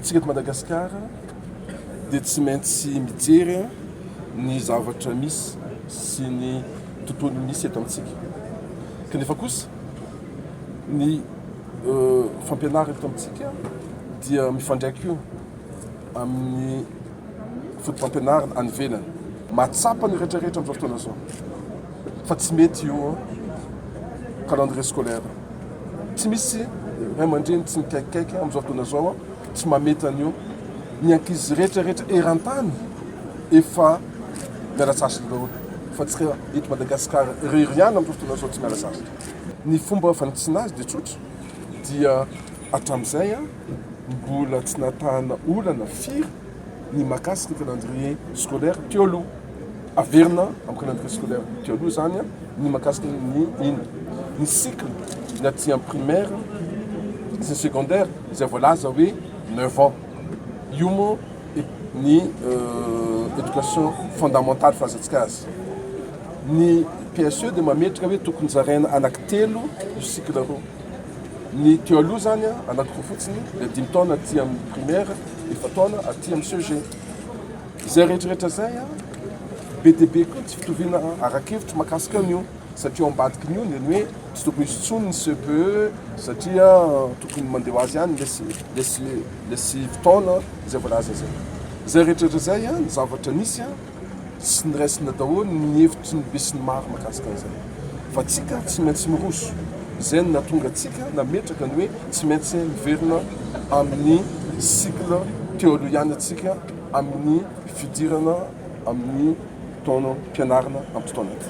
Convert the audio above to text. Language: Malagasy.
Isika eto Madagasikara dia tsy maintsy mijery ny zavatra misy sy ny tontolo misy eto amintsika. Kanefa kosa ny fampianarana eto amintsika dia mifandraika io amin'ny fotopampianarana any ivelany. Mahatsapa ny rehetra rehetra amin'izao fotoana izao fa tsy mety io calendrier scolaire. Tsy misy ray aman-dreny tsy mikaikikaiky amin'izao fotoana izao, tsy mamety an'io. Ny ankizy rehetra rehetra eran-tany efa miala sasatra daholo fa tsika eto Madagasikara irery ihany amin'izao fotoana izao tsy miala sasatra. Ny fomba fanitsiana azy dia tsotra dia hatramin'izay an! Mbola tsy nahatahana olana firy ny mahakasika ny calendrier scolaire teo aloha. Averina amin'ny calendrier scolaire teo aloha izany ny mahakasika ny inona? Ny cycle ny aty amin'ny primaire sy ny secondaire izay voalaza hoe neuf ans. Io moa ny éducation fondamentale filazantsika azy. Ny PSE dia mametraka hoe tokony zaraina anaky telo io cycle io. Ny teo aloha izany anakoroa fotsiny dia dimy taona aty amin'ny primaire, efa-taona aty amin'ny CEG. Izay rehetrarehetra izay be dia be koa ny tsy fitoviana ara-kevitra makasika an'io satria ao ambadiky ny io ny hoe tsy tokony hisy intsony ny CPE satria tokony mandeha ho azy ihany lesy lesy fotoana izay voalaza izay. Izay rehetrarehetra izay ny zavatra nisy Tsy niraisina daholo ny hevitry ny besinimaro mahakasika an'izany. Fa tsika tsy maintsy miroso. Izay no nahatonga antsika nametraka ny hoe tsy maintsy miverina amin'ny cycle teoloiana tsika amin'ny fidirana amin'ny taonam-pianarana ampitony ity.